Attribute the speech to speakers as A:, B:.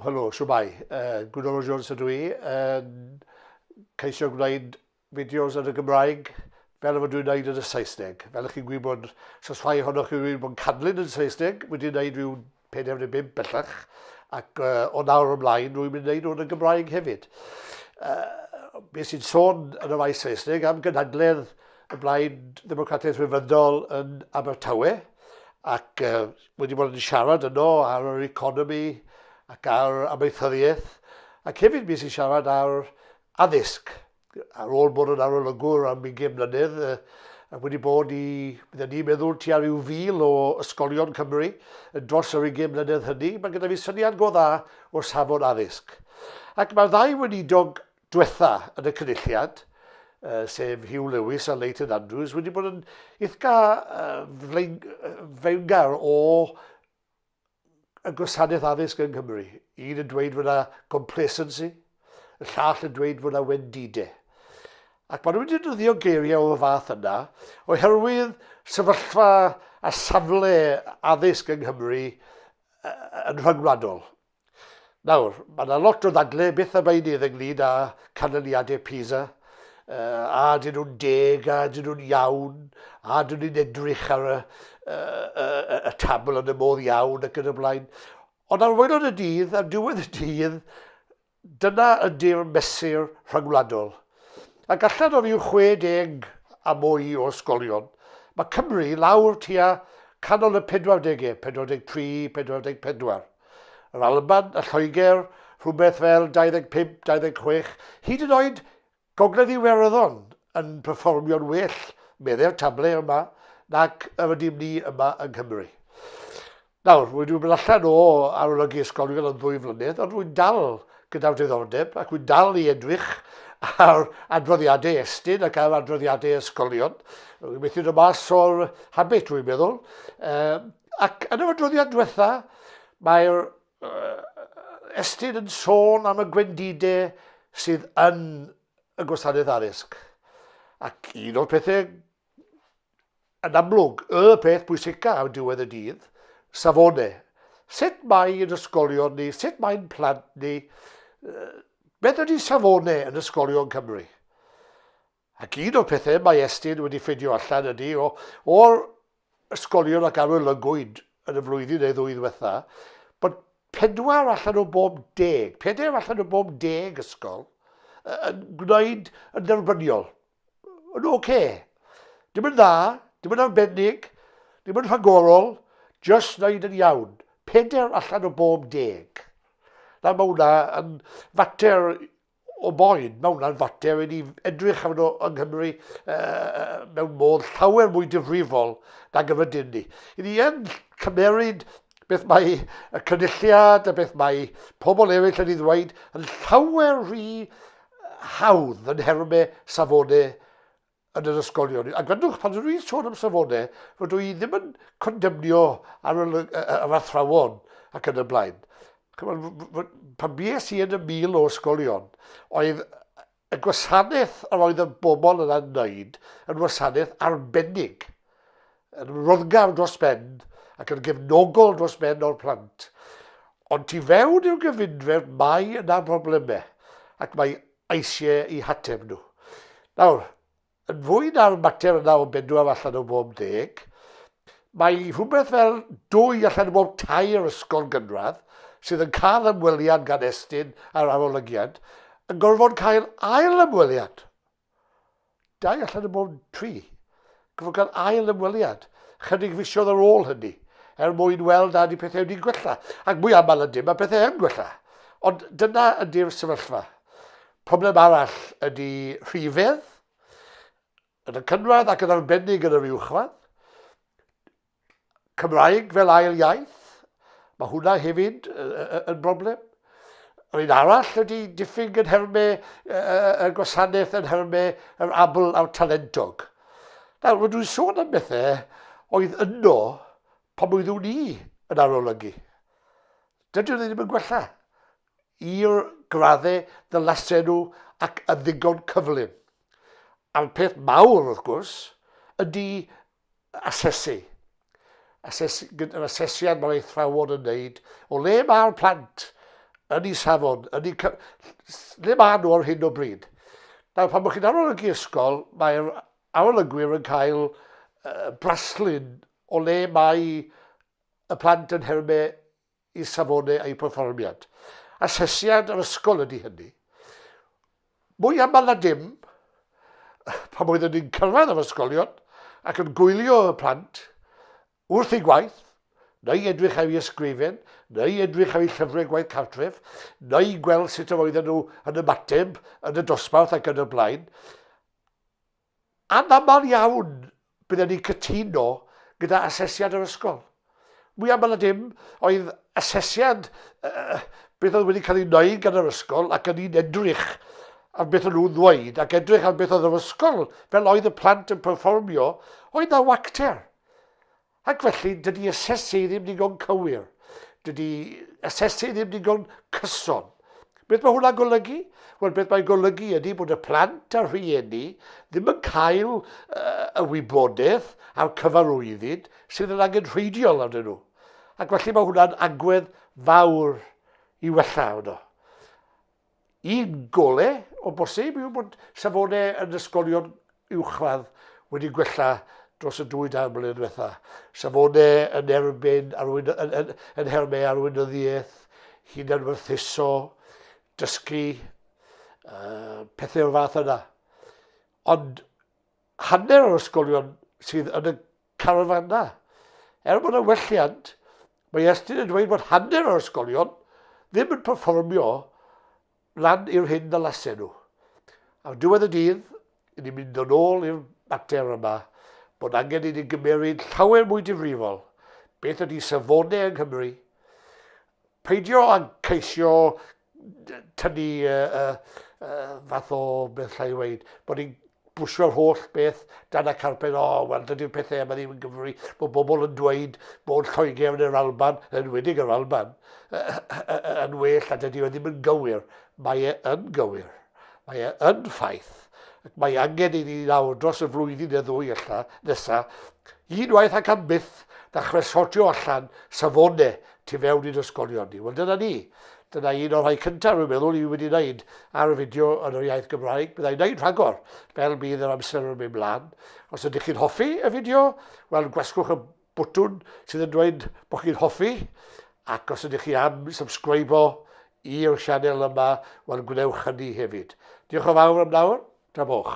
A: Helo, shwmae. Uh, Gwynol Jones ydw i. Yn ceisio gwneud fideos yn y Gymraeg fel y fod dwi'n gwneud yn y Saesneg. Fel ych chi'n gwybod, sos rhai ohonoch chi wedi bod yn canlyn yn Saesneg, wedi gwneud rhyw 45 bellach, ac uh, o nawr ymlaen rwy'n mynd i wneud o'n y Gymraeg hefyd. Uh, be sy'n sôn yn y faes Saesneg am gynhadledd y Blaid Ddemocratiaeth Rhyfyddol yn Abertawe, ac uh, wedi bod yn siarad yno ar yr economi ac ar amaethyddiaeth, ac hefyd mi sy'n siarad ar addysg, ar ôl bod yn arolygwr am ugain mlynedd, ac wedi bod i, bydden ni'n meddwl, tua rhyw fil o ysgolion Cymru yn dros yr ugain mlynedd hynny, mae gyda fi syniad go dda o safon addysg. Ac mae'r ddau weinidog dwetha yn y Cynulliad, sef Hugh Lewis a Leighton Andrews, wedi bod yn ithga fewngar o y gwasanaeth addysg yng Nghymru. Un yn dweud fod yna complacency, y llall yn dweud fod yna wendide. Ac maen nhw wedi dyddio geiriau o'r fath yna oherwydd sefyllfa a safle addysg yng Nghymru yn rhyngwladol. Nawr, mae yna lot o ddadle, beth am einydd ynglyn â canlyniadau PISA, uh, a dyn nhw'n deg, a dyn nhw'n iawn, a dyn nhw'n edrych ar y, uh, uh, y tabl yn y modd iawn ac yn y blaen. Ond ar waelod y dydd, ar diwedd y dydd, dyna ydy'r mesur rhagwladol. Ac allan o ryw 60 a mwy o ysgolion, mae Cymru lawr tua canol y 40au, 43, 44. Yr Alban, y Lloegr, rhywbeth fel 25, 26, hyd yn oed Gogledd Iwerddon yn perfformio'n well, medde'r table yma, nac yr ydym ni yma yng Nghymru. Nawr, rwy'n mynd allan o arolygu ysgolion yn ddwy flynedd, ond rwy'n dal gyda'r diddordeb ac rwy'n dal i edrych ar adroddiadau Estyn ac ar adroddiadau ysgolion. Rwy'n methu dod mas o'r habit, rwy'n meddwl. Um, Ac yn yr adroddiad diwetha, mae'r uh, estyn yn sôn am y gwendidau sydd yn y gwasanaeth addysg. Ac un o'r pethau yn amlwg, y peth bwysica am diwedd y dydd, safone. Sut mae yn ysgolion ni, sut mae'n plant ni, beth ydy safone yn ysgolion Cymru? Ac un o'r pethau mae Estyn wedi ffeindio allan ydy, o, o'r ysgolion ac arolygwyd yn y flwyddyn neu ddwy ddiwetha, bod pedwar allan o bob deg, pedair allan o bob deg ysgol yn gwneud yn dderbyniol. Yn oce. Okay. Dim yn dda, dim yn arbennig, dim yn rhagorol, just wneud yn iawn. Pedair allan o bob deg. Nawr mae hwnna yn fater o boen. Mae hwnna'n fater i ni edrych arno yng Nghymru uh, mewn modd llawer mwy difrifol nag y rydyn ni. I ni yn cymeryd beth mae y cynulliad a beth mae pobl eraill yn ei ddweud yn llawer rhy hawdd yn herme safone yn yr ysgolion. A gwrandwch, pan rwy'n sôn am safonau, fod dwi ddim yn condemnio ar yr athrawon ac yn y blaen. Pan bies i yn y mil o ysgolion, oedd y gwasanaeth yr oedd y bobl yna'n wneud yn wasanaeth arbennig, yn roddgar dros ben ac yn gefnogol dros ben o'r plant. Ond ti fewn i'w gyfundref mae yna broblemau ac mae eisiau eu hateb nhw. Nawr, yn fwy na'r mater yna o bedwar allan o bob deg, mae rhywbeth fel dwy allan o bob tair ysgol gynradd sydd yn cael ymweliad gan Estyn ar arolygiad yn gorfod cael ail ymweliad. Dau allan o bob tri. Cyfloga'r ail ymweliad chydig fisoedd ar ôl hynny, er mwyn weld nad y pethau wedi'n gwella, ac mwy aml na dim mae pethau yn gwella. Ond dyna ydy'r sefyllfa. Problem arall ydy rhifedd, yn y cynradd ac yn arbennig yn yr uwchradd. Cymraeg fel ail iaith, mae hwnna hefyd yn broblem. Yr un arall ydy diffyg yn nhermau y gwasanaeth, yn nhermau yr abl a'r talentog. Nawr, mae dwi'n sôn am bethau oedd yno pan oeddwn ni yn arolygu. Dydyn nhw ddim yn gwella i'r graddau ddylasen nhw ac yn ddigon cyflym. A'r peth mawr, wrth gwrs, ydy asesu. Ases, yr asesiad mae'r eithrawon yn wneud o le mae'r plant yn ei safon, yn ei, le mae nhw ar hyn o bryd. Nawr, pan bod chi'n arolygu ysgol, mae'r arolygwyr yn cael uh, braslun o le mae y plant yn hermau y safonau a'u perfformiad. Asesiad yr ysgol ydy hynny. Mwy aml na dim, pan oeddwn ni'n cyrraedd yr ysgolion ac yn gwylio y plant wrth ei gwaith, neu edrych ar ei ysgrifen, neu edrych ar ei llyfrau gwaith cartref, neu gweld sut yr oedden nhw yn ymateb yn y dosbarth ac yn y blaen, Anaml iawn bydden ni'n cytuno gyda asesiad yr ysgol. Mwy aml na dim, oedd asesiad beth oedd wedi cael ei wneud gan yr ysgol ac yn un edrych ar beth o'n nhw'n ddweud ac edrych ar beth oedd yr ysgol fel oedd y plant yn perfformio, oedd na wacter. Ac felly, dydy asesu ddim ddigon cywir. Dydy asesu ddim ddigon cyson. Beth mae hwnna'n golygu? Wel, beth mae'n golygu ydy bod y plant a'r rhieni ddim yn cael uh, y wybodaeth a'r cyfarwyddyd sydd yn angen rheidiol arnyn nhw. Ac felly mae hwnna'n agwedd fawr i wella hwnnw. Un golau o bosib yw bod safonau yn ysgolion uwchradd wedi gwella dros y dwy dair mlynedd diwetha. Safonau yn erbyn arwyn, yn, yn, yn hermau arweinyddiaeth, hunanwerthuso, dysgu, uh, pethau o'r fath yna. Ond hanner o'r ysgolion sydd yn y carafannau. Er bod yna welliant, mae Estyn yn dweud bod hanner o'r ysgolion ddim yn perfformio lan i'r hyn ddalasen nhw. Ar diwedd y dydd, i ni mynd yn ôl i'r mater yma bod angen i ni gymeryd llawer mwy difrifol beth ydy safonau yng Nghymru, peidio ag ceisio tynnu uh, uh, uh, fath o beth llai i weid, bod ni'n bwsio'r holl beth dan y carped, o, oh, wel, dydy'r pethau yma ddim yn gyfri. Mae bobl yn dweud bod Lloegr yn yr Alban, yn wedig yr Alban, yn well a dydy o ddim yn gywir. Mae e yn gywir. Mae e yn ffaith. Ac mae angen i ni nawr dros y flwyddyn neu ddwy allan nesaf, unwaith ac am byth, ddechrau sortio allan safonau tu fewn i'n ysgolion ni. Wel, dyna ni. Dyna un o'r rhai cyntaf, rwy'n meddwl, i wedi wneud ar y fideo yn yr iaith Gymraeg. Byddai'n wneud rhagor, fel bydd yr amser yn mynd mlaen. Os ydych chi'n hoffi y fideo, wel, gwasgwch y bwtwn sydd yn dweud bod chi'n hoffi, ac os ydych chi am subscribo i'r sianel yma, wel, gwnewch hynny hefyd. Diolch o fawr am nawr, tra boch.